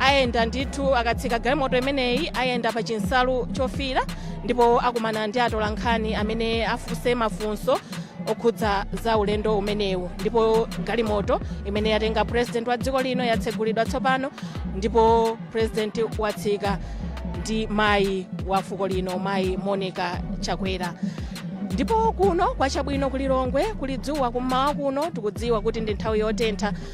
ayenda ndithu akatsika galimoto imeneyi ayenda pa chinsalu chofiira ndipo akumana ndi atolankhani amene afunse mafunso okhudza za ulendo umenewu ndipo galimoto imene yatenga president wa dziko lino yatsegulidwa tsopano ndipo president watsika ndi mayi wa fuko lino mayi monica chakwera ndipo kuno kwacha bwino ku lilongwe kuli dzuwa kummawa kuno tikudziwa kuti ndi nthawi yotentha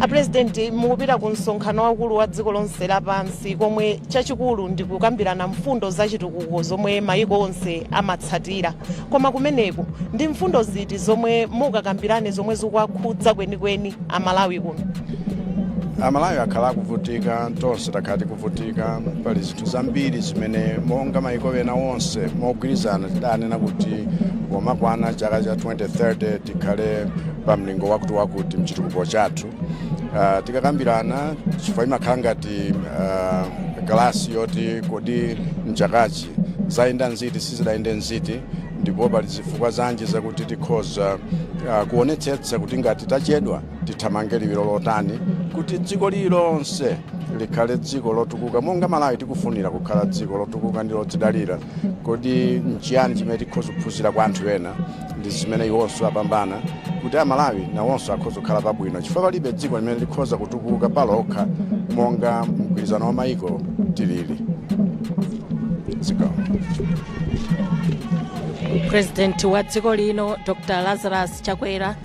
apurezidenti mukupita ku msonkhano waukulu wa dziko lonse lapansi komwe chachikulu ndi kukambirana mfundo za chitukuko zomwe mayiko onse amatsatira koma kumeneko ndi mfundo ziti zomwe mukakambirane zomwe zikuwakhudza kwenikweni amalawi kuno amalawi akhala akuvutika tonse takhala tikuvutika pali zinthu zambiri zimene monga mayiko ena onse mogwirizana tidanena kuti pomakwana chaka cha 20 2030 tikhale pa mlingo wakuti wakuti mchitukuko chathu uh, tikakambirana chifukwa imakhala ngati uh, galasi yoti kodi mchakachi zayenda nziti sizidayende nziti ndipo pali zifukwa zanji zakuti tikhoza uh, kuonetsetsa kuti ngati tachedwa tithamange liwiro lotani kuti dziko lililonse likhale dziko lotukuka monga malawi tikufunira kukhala dziko lotukuka ndi lodzidalira kodi nchiyani zimene tikhoza kuphunzira kwa anthu ena ndi zimene iwonso apambana kuti amalawi nawonso akhoza kukhala pabwino chifukwa palibe dziko limene likhoza kutukuka palokha monga mgwirizano wa mayiko tilili dziko purezidenti wa dziko lino dr lazarus chakwera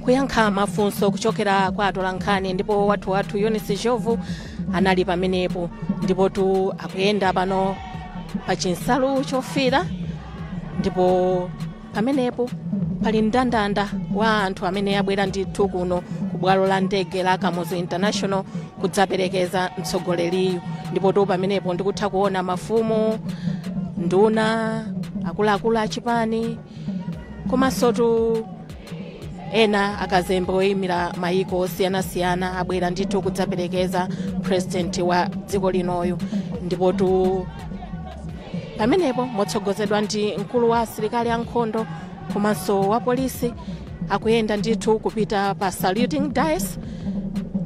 kuyankha mafunso kuchokera kwa atolankhani ndipo wathu wathu eunice ndhlovu anali pamenepo ndipotu akuyenda pano pa chinsalu chofiira ndipo pamenepo pali mndandanda wa anthu amene abwera ndithu kuno ku bwalo la ndege la kamuzu international kudzaperekeza mtsogoleriyu ndipotu pamenepo ndikutha kuona mafumu nduna akuluakulu achipani komansotu ena akazembe oyimira mayiko osiyanasiyana abwera ndithu kudzaperekeza purezidenti wa dziko linoyu ndipotu pamenepo motsogozedwa ndi mkulu wa asilikali ankhondo komanso wa polisi akuyenda ndithu kupita pa saluting dais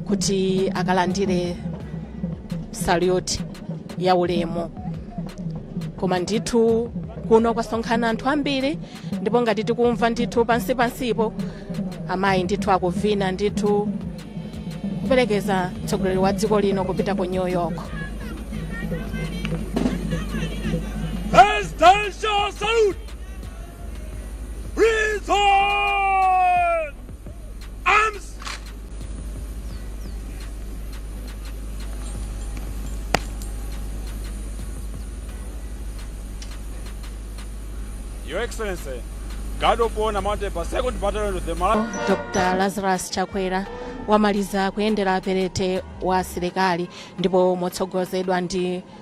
kuti akalandire salute ya ulemu koma ndithu kuno kwasonkhana anthu ambiri ndipo ngati tikumva ndithu pansi pansipo amayi ndithu akuvina ndithu kuperekeza mtsogoleri wa dziko lino kupita ku new york Presidential salute! Present! Arms! Your Excellency, guard of honor mounted by 2nd Battalion of the Malawi. dr lazarus chakwera wamaliza kuyendera perete wa asilikali ndipo motsogozedwa ndi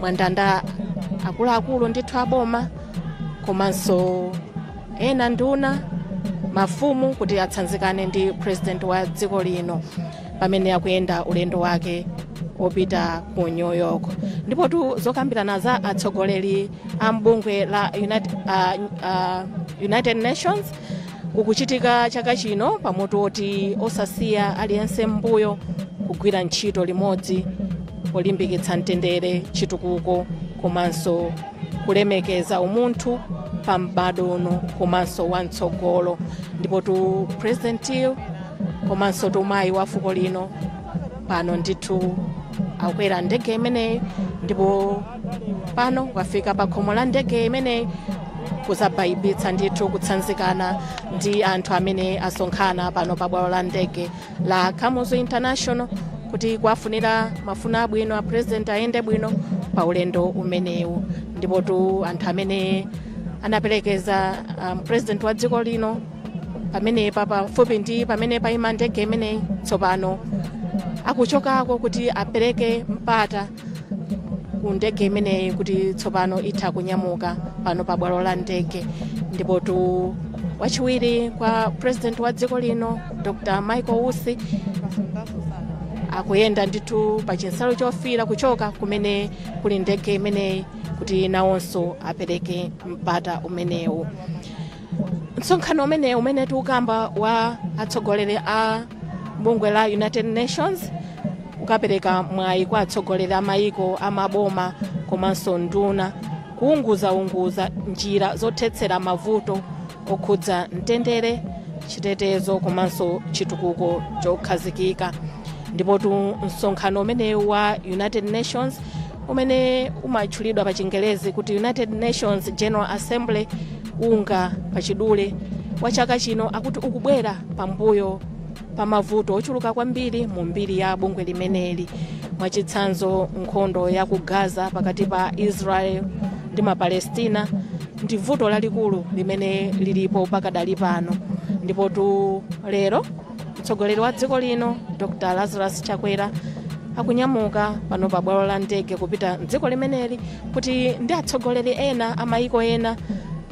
mwandanda akuluakulu ndithu aboma komanso ena nduna mafumu kuti atsanzikane ndi president wa dziko lino pamene akuyenda ulendo wake wopita ku new york ndipotu zokambirana za atsogoleri a mbungwe la united, uh, uh, united nations kukuchitika chaka chino pa mutu woti osasiya aliyense m'mbuyo kugwira ntchito limodzi polimbikitsa mtendere chitukuko komanso kulemekeza umunthu pa m'bado uno komanso wa mtsogolo ndipotu president komansotu mayi wa fuko lino pano ndithu akwera ndege imeneyi ndipo pano wafika pa khomo la ndege imeneyi kudzabayibitsa ndithu kutsanzikana ndi anthu amene asonkhana pano pa bwalo la ndege la kamuzu international kuti kuwafunira mafuno abwino a president ayende bwino pa ulendo umenewu ndipotu anthu amene anaperekeza um, president wa dziko lino pamenepa pafupi ndi pamene paima ndege imeneyi tsopano akuchokako kuti apereke mpata ku ndege imeneyi kuti tsopano itha kunyamuka pano pa bwalo la ndege ndipotu wachiwiri kwa president wa dziko lino dr michael usi akuyenda ndithu pa chinsalu chofira kuchoka kumene kuli ndege imeneyi kuti nawonso apereke mpata umenewu msonkhano umenewu umene tikukamba wa atsogoleri a mbungwe la united nations ukapereka mwayi kwa atsogoleri a mayiko a maboma komanso nduna kuunguzaunguza njira zothetsera mavuto okhudza mtendere chitetezo komanso chitukuko chokhazikika ndipotu msonkhano umenewu wa united nations umene umatchulidwa pa chingerezi kuti united nations general assembly unga pachidule wa chaka chino akuti ukubwera pambuyo pa mavuto ochuluka kwambiri mu mbiri ya bungwe limeneli mwachitsanzo nkhondo ya ku gaza pakati pa israel ndi mapalestina ndi vuto lalikulu limene lilipo pakadali pano ndipotu lero mtsogoleri wa dziko lino dr lazarus chakwera akunyamuka pano pa bwalo la ndege kupita mdziko limeneli kuti ndi atsogoleri ena amayiko ena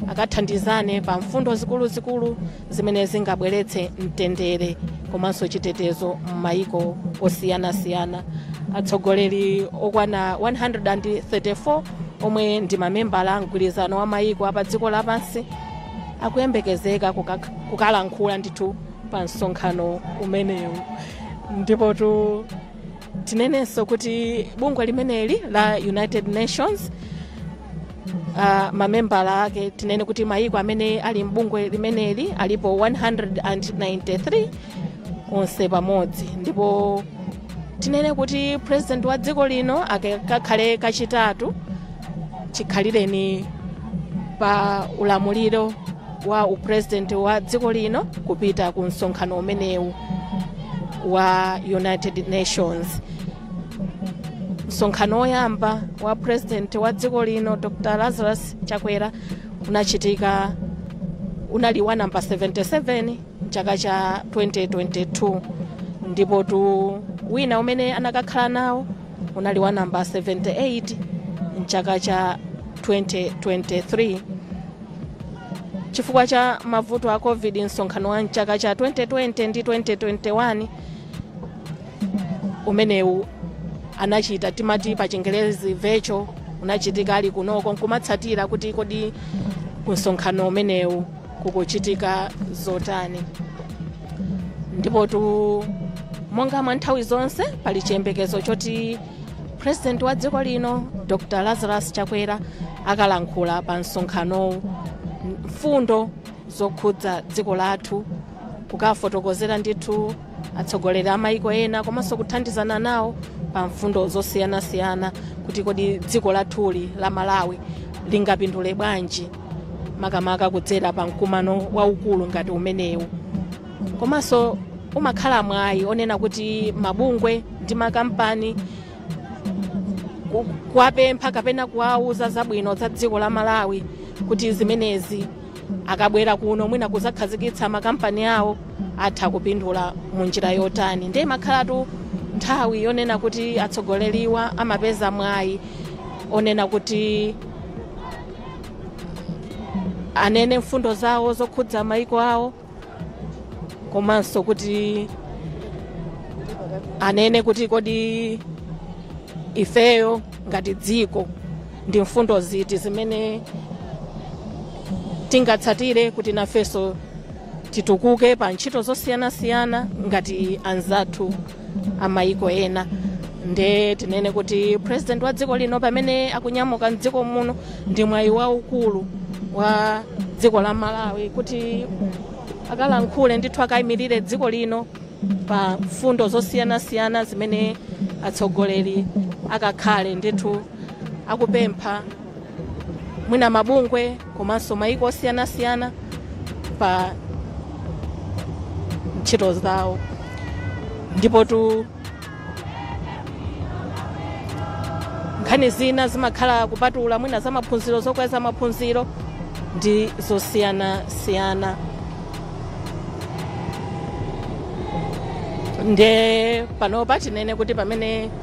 akathandizane pa mfundo zikuluzikulu zimene zingabweretse mtendere komanso chitetezo m'mayiko osiyanasiyana atsogoleri okwana 134 omwe ndi mamembala a mgwirizano wa mayiko apa dziko lapansi akuyembekezeka kukak- kukalankhula ndithu pa msonkhano umenewu ndipotu tinenenso kuti bungwe limeneli la united nations uh, mamembala ake tinene kuti mayiko amene ali mbungwe limeneli alipo 193 onse pamodzi ndipo tinene kuti president wa dziko lino kakhala kachitatu chikhalireni pa ulamuliro wa upresident wa dziko lino kupita ku msonkhano umenewu wa united nations msonkhano woyamba wa president wa dziko lino dr lazarus chakwera unachitika unali wa namba 77 mchaka cha 2022 ndipotu wina umene anakakhala nawo unali wa namba 78 mchaka cha 2023 chifukwa cha mavuto a covid msonkhano wa mchaka cha 2020 ndi 2021 umenewu anachita timati pa chingerezi virtual unachitika ali kunoko nkumatsatira kuti kodi ku msonkhano umenewu kukuchitika zotani ndipotu monga mwa nthawi zonse pali chiyembekezo choti purezidenti wa dziko lino dr lazarus chakwera akalankhula pa msonkhanowu mfundo zokhudza dziko lathu kukafotokozera ndithu atsogoleri a maiko ena komanso kuthandizana nawo pa mfundo zosiyanasiyana kuti kodi dziko lathuli la malawi lingapindule bwanji makamaka kudzera pa mkumano waukulu ngati umenewu komanso umakhala mwayi onena kuti mabungwe ndi makampani ku- kuwapempha kapena kuwauza zabwino za dziko la malawi kuti zimenezi akabwera kuno mwina kuzakhazikitsa makampani awo atha kupindula mu njira yotani ndiye imakhalatu nthawi yonena kuti atsogoleriwa amapeza mwayi onena kuti anene mfundo zawo zokhudza maiko awo komanso kuti anene kuti kodi ifeyo ngati dziko ndi mfundo ziti zimene tingatsatire kuti nafenso titukuke pa ntchito zosiyanasiyana ngati anzathu a maiko ena nde tinene kuti president wa dziko lino pamene akunyamuka mdziko muno ndi mwayi waukulu wa dziko la malawi kuti akalankhule ndithu akayimirire dziko lino pa mfundo zosiyanasiyana zimene atsogoleri akakhale ndithu akupempha mwina mabungwe komanso mayiko osiyanasiyana pa ntchito zawo ndipotu nkhani zina zimakhala kupatula mwina za maphunziro zokweza maphunziro ndi zosiyanasiyana nde panopa tinene kuti pamene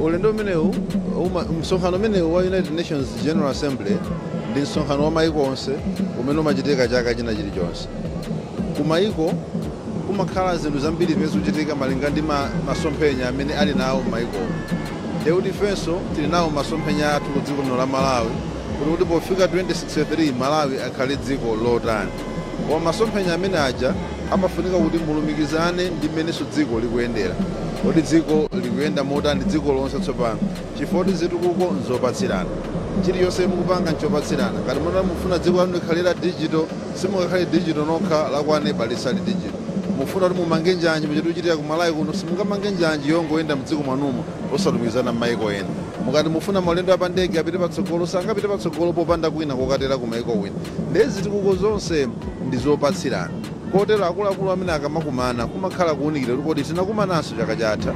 Ulendo umenewu uma, msonkhano umenewu wa United Nations General Assembly ndi msonkhano wa maiko onse umene umachitika chaka china chilichonse. Ku maiko kumakhala zinthu zambiri zimene zikuchitika malinga ndi ma, masomphenya amene ali nawo m'maikowo. Nde kuti ifenso tili nawo masomphenya athu ku dziko lino la Malawi kuti kuti pofika 2063 Malawi akhale dziko lotani. Koma masomphenya amene aja amafunika kuti mulumikizane ndi mmenenso dziko likuyendera. Kodi dziko likuyenda motani dziko lonse tsopano? Chifukwa kuti zitukuko n'zopatsirana. Chilichonse mukupanga n'chopatsirana. Ngati mukati mukufuna dziko lanu likhale la dijito, simungakhale dijito nokha, la kwa aneba lisali dijito. Mukufuna kuti mumange njanji muja tikuchitira ku Malawi kuno, simungamange njanji yongoyenda m'dziko mwanumo osalumikizana m'mayiko ena. Mukati mukufuna maulendo a pandege apite patsogolo, sangapite patsogolo popanda kwina kokatera kumayiko kwina. Nde zitukuko zonse ndi zopatsirana kotero akuluakulu amene akamakumana kumakhala kuunikira kuti kodi tinakumananso chaka chatha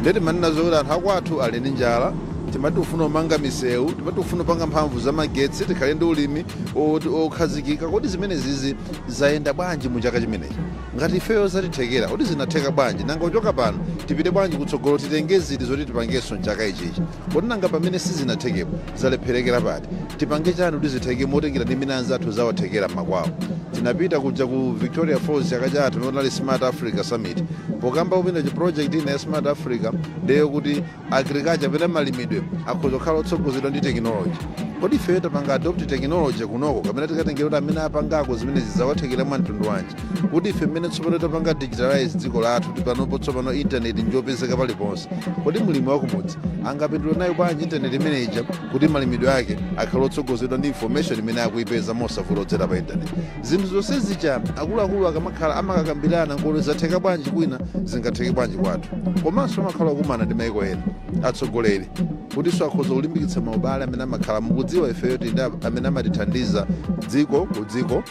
nde timanena zokuti anthu akwathu ali ndi njala, timati tikufuna kumanga misewu, timati tikufuna kupanga mphamvu za magetsi, tikhale ndi ulimi wokhazikika. Kodi zimenezizi zayenda bwanji mu chaka chimenechi? Ngati ifeyo zatithekera, kodi zinatheka bwanji? Nanga kuchoka pano tipite bwanji kutsogolo, titenge ziti zoti tipangenso m'chaka ichichi? Kodi nanga pamene sizinathekepo? zalepherekera pati? Tipange chani kuti zitheke motengera ndi mmene anzathu zawathekera mmakwawo? Tinapita kuja ku Victoria Falls chaka chatha pamene kunali Smart Africa Summit. Pokambapo china chi project ina ya Smart Africa ndiye yokuti agriculture kapena malimidwe akhoza kukhala otsogozedwa ndi technology. Kodi ifeyo tapanga adopt technology kunoko kapena tikatengera kuti amene apangako zimenezi zawathekera mwa mtundu wanji? kuti ife mmene tsopano tapanga digitalize dziko lathu kuti panopo tsopano intaneti njopezeka paliponse kodi mlimi wakumudzi angapindule nayo bwanji intaneti imene ija kuti malimidwe ake akhale otsogozedwa ndi information imene akuyipeza mosavuta kudzera pa intaneti zinthu zonse zija akuluakulu akamakhala amakakambirana kodi zatheka bwanji kwina zingatheke bwanji kwathu komanso amakhala okumana ndi maiko ena atsogoleri kutinso akhoza kulimbikitsa maubale amene amakhala mukudziwa ifeyo tili nde amene amatithandiza dziko ku dziko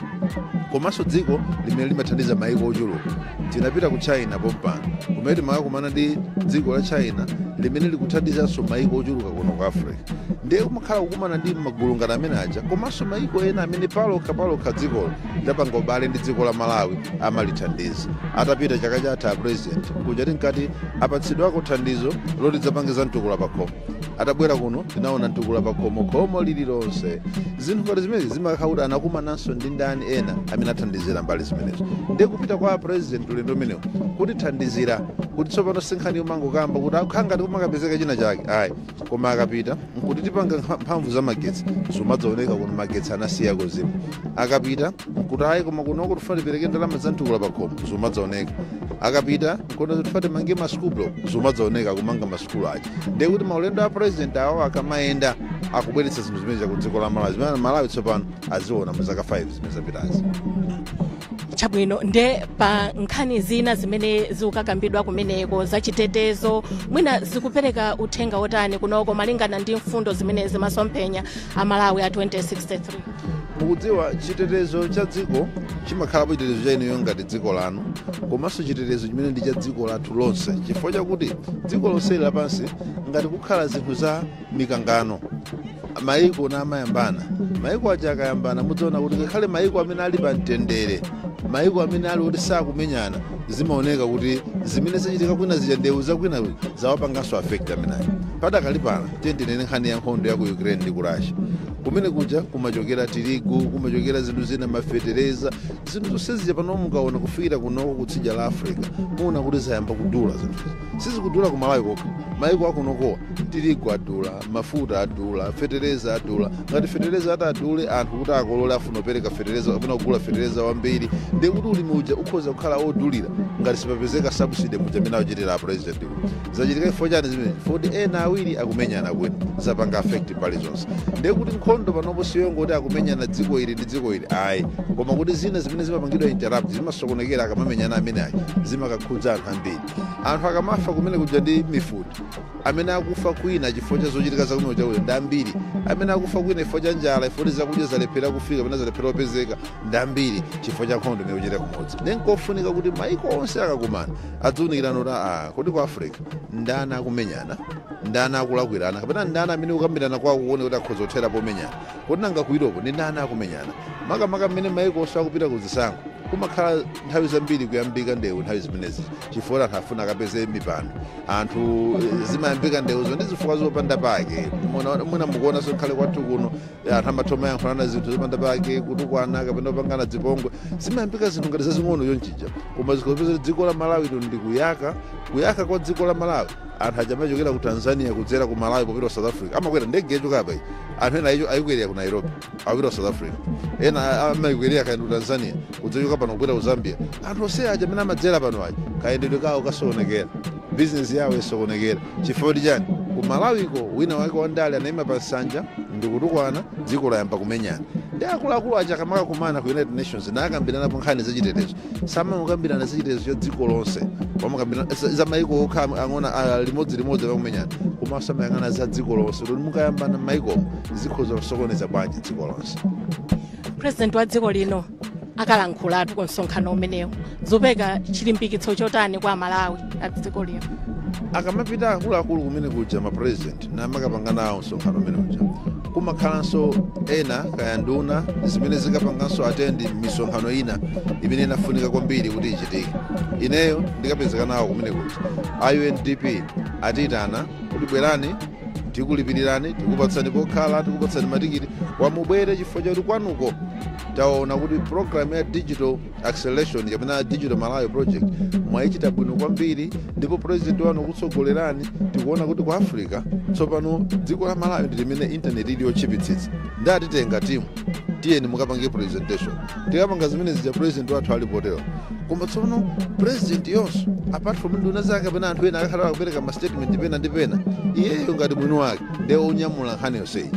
komanso dziko limene limathandiza maiko ochuluka tinapita ku china pompano kumene timakakumana ndi dziko la china limene likuthandizanso maiko ochuluka kuno ku africa ndiye kumakhala kukumana ndi magulu ngati amene aja komanso maiko ena amene palokha palokha dzikolo lidapanga ubale ndi dziko la malawi amalithandiza atapita chaka chatha apresident kuja tinkati apatsidwako thandizo loti tidzapangitsa mtukula pakhomo atabwera kuno tinaona mtukula pakhomo khomo lililonse zinthu ngati zimenezi zimakhala kuti anakumanansoni ndi ndani ena amene athandizira mbali zimenezo ndiye kupita kwa apresident ulendo umenewo kutithandizira kuti tsopano sinkhani yomangokamba kuti akhala ngati kumakapezeka china chake ayi koma akapita nkuti tipanga nkha- mphamvu za magetsi zimadzaoneka kuti magetsi anasiya kuzima akapita nkuti ayi koma kunoko tifuna tipereke ndalama za mtukula pakhomo zimadzaoneka akapita nkuti tifuna timange masukulu zimadzaoneka kumanga masukulu aja ndiye kuti maulendo a president awo akamayenda akubweretsa zinthu zimene za ku dziko la malawi zimene amalawi tsopano aziona mu zaka 5 zimene zapitazi chabwino nde pa nkhani zina zimene zikukakambidwa kumeneko zachitetezo mwina zikupereka uthenga wotani kunoko malingana ndi mfundo zimene za masomphenya a malawi a 2063 mukudziwa chitetezo cha dziko chimakhalapo chitetezo cha inuyo ngati dziko lanu komanso chitetezo chimene ndi cha dziko lathu lonse chifukwa chakuti dziko lonse lapansi ngati kukhala zinthu za mikangano maiko ena amayambana maiko aja akayambana mudzaona kuti ngakhale maiko amene ali pa mtendere maiko amene ali kuti sakumenyana zimaoneka kuti zimene zachitika kwina zija ndewu zakwina zawapanganso affect amenayo padakali pano tiyeni tinene nkhani ya nkhondo ya ku ukraine ndi ku russia kumene kuja kumachokera tirigu kumachokera zinthu zina mafetereza zinthu zonse zija pano mukaona kufikira kunoko kutsidya la africa muona kuti zayamba kudula zinthu sizikudula ku malawi kokha maiko akunokowa tirigu adula mafuta adula fetereza adula ngati fetereza atadule anthu kuti akolole afuna apereke fetereza kapena kugula fetereza wambiri ndiye kuti ulimi uja ukhoza kukhala odulira ngati sipapezeka subsidy muja amene akuchitira a president uyu zachitika chifukwa chani zimene zoti ena awiri akumenyana kwina zapanga affect mbali zonse ndiye kuti nkhondo panopo siyongoti akumenyana dziko ili ndi dziko ili ayi koma kuti zina zimene zimapangidwa interrupt zimasokonekera akamamenyana amene aja zimakakhudza anthu ambiri anthu akamafa kumene kuja ndi mifuti amene akufa kwina chifukwa cha zochitika za kumene kuja ndi ambiri amene akufa kwina chifukwa cha njala chifukwa kuti zakudya zalephera kufika kapena zalephera kupezeka ndi ambiri chifukwa cha nkhondo imene ikuchitika kumodzi ndi nkofunika kuti maiko onse akakumana adziunikirana kuti aa kodi ku africa ndani akumenyana ndani akulakwirana kapena ndani amene kukambirana kwawo tione kuti akhoza kuthera pomenyana Kodi nanga ku Europe ndi ndani akumenyana? Makamaka mmene maiko onse akupita ku zisankho, kumakhala nthawi zambiri kuyambika ndewu nthawi zimenezi chifukwa anthu afuna akapeze mipando. Anthu zimayambika ndewuzo ndi zifukwa zopanda pake. Muna- Mwina mukuonanso ngakhale kwathu kuno eh, anthu amatha kumayankhulana zinthu zopanda pake, kutukwana kapena kupangana zipongwe. Zimayambika zinthu ngati zazing'ono chonchija, koma ukupeza dziko la Malawi lino ndi kuyaka, kuyaka kwa dziko la Malawi anthu aja amachokera ku tanzania kudzera ku malawi popita ku south africa amakwera ndege yachoka apa iyi anthu ena ayicho- ayikwerera ku nairobi akupita ku south africa ena a- amayikwerera kaya ndi ku tanzania kudzachoka pano kupita ku zambia anthu onse aja amene amadzera pano aja kayendedwe kawo kasokonekera bizinesi yawo isokonekera chifukwa ndi chani ku malawiko wina wake wandale anayima pa nsanja ndikutukwana dziko layamba kumenyana ndiye akuluakulu aja akamakakumana ku united nations nakambiranapo nkhani zachitetezo samangokambirana zachitetezo cha dziko lonse pamakambirana za maiko okha ang'ono ah, limodzi limodzi pakumenyana komanso amayang'ana za dziko lonse kuti mukayambana maikomo zikhoza kusokoneza bwanji dziko lonse president wa dziko lino akalankhulatu ku msonkhano umenewu zopereka chilimbikitso chotani kwa amalawi a dziko lino akamapita akuluakulu kumene kuja ma president namakapanga nawo msonkhano umene uja kumakhalanso ena kaya nduna zimene zikapanganso atendi misonkhano ina imene inafunika kwambiri kuti ichitike ineyo ndikapezeka nawo kumeneko kuti a undp atiyitana kuti bwerani tikulipirirani tikupatsani pokhala tikupatsani matikiti a mubwere chifukwa chakuti kwanuko taona kuti programu ya digital acceleration kapena digital malawi project mwayichita bwino kwambiri ndipo president wanu wakutsogolerani tikuona kuti ku africa tsopano dziko la malawi ndi limene intaneti ili yotchipitsitsa ndiye atitenga timu tiyeni mukapange presentation tikapanga zimene zija president wathu alipo tero koma tsopano president iyenso apart from nduna zake kapena anthu ena akakhala akupereka ma statement pena ndi pena iyeyo ngati mwini wake ndiye onyamula nkhani yonseyi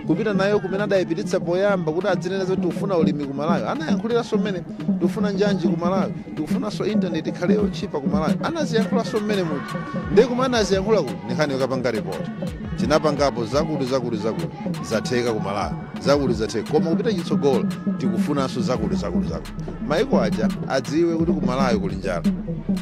kupita nayo kumene adayipititsa poyamba kuti adzanene zoti tikufuna ulimi ku malawi anayankhuliranso mmenemo tikufuna njanji ku malawi tikufunanso intaneti ikhale yotchipa ku malawi anaziyankhulanso mmenemu ndiye kumene anaziyankhula kuti ndi nkhani yokapanga ripoti tinapangapo zakuti zakuti zakuti zatheka ku malawi zakuti zatheka koma kupita chitsogolo tikufunanso zakuti zakuti zakuti maiko aja adziwe kuti ku malawi kuli njala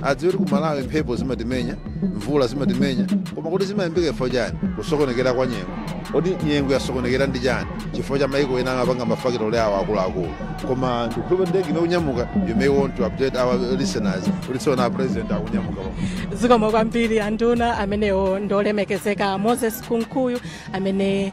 adziwe kuti ku malawi mphepo zimatimenya mvula zimatimenya koma kuti zimayambika chifukwa chani kusokonekera kwa nyengo kodi nyengo yasokonekera ndi chani chifukwa cha maiko ena amapanga mafakitole awo akuluakulu koma ndikukhulupirira ndege ikunyamuka you may want to update our listeners kuti zoona a president akunyamuka zikomo kwambiri anduna amenewo ndiolemekezeka moses kunkuyu amene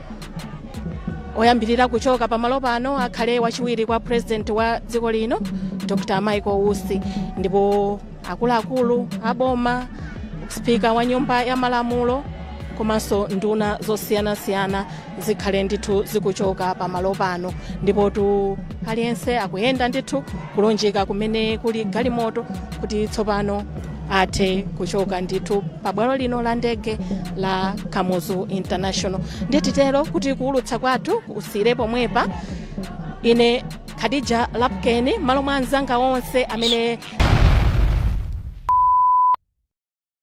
oyambirira kuchoka pamalo pano akhale wachiwiri kwa president wa dziko lino dr michael usi ndipo akuluakulu aboma spika wa nyumba ya malamulo komanso nduna zosiyanasiyana zikhale ndithu zikuchoka pamalo pano ndipotu aliyense akuyenda ndithu kulunjika kumene kuli galimoto kuti tsopano athe kuchoka ndithu pa bwalo lino la ndege la kamuzu international ndiye titero kuti kuulutsa kwathu kusiyire pomwepa ine khadija lapukeni malo mwa anzanga onse amene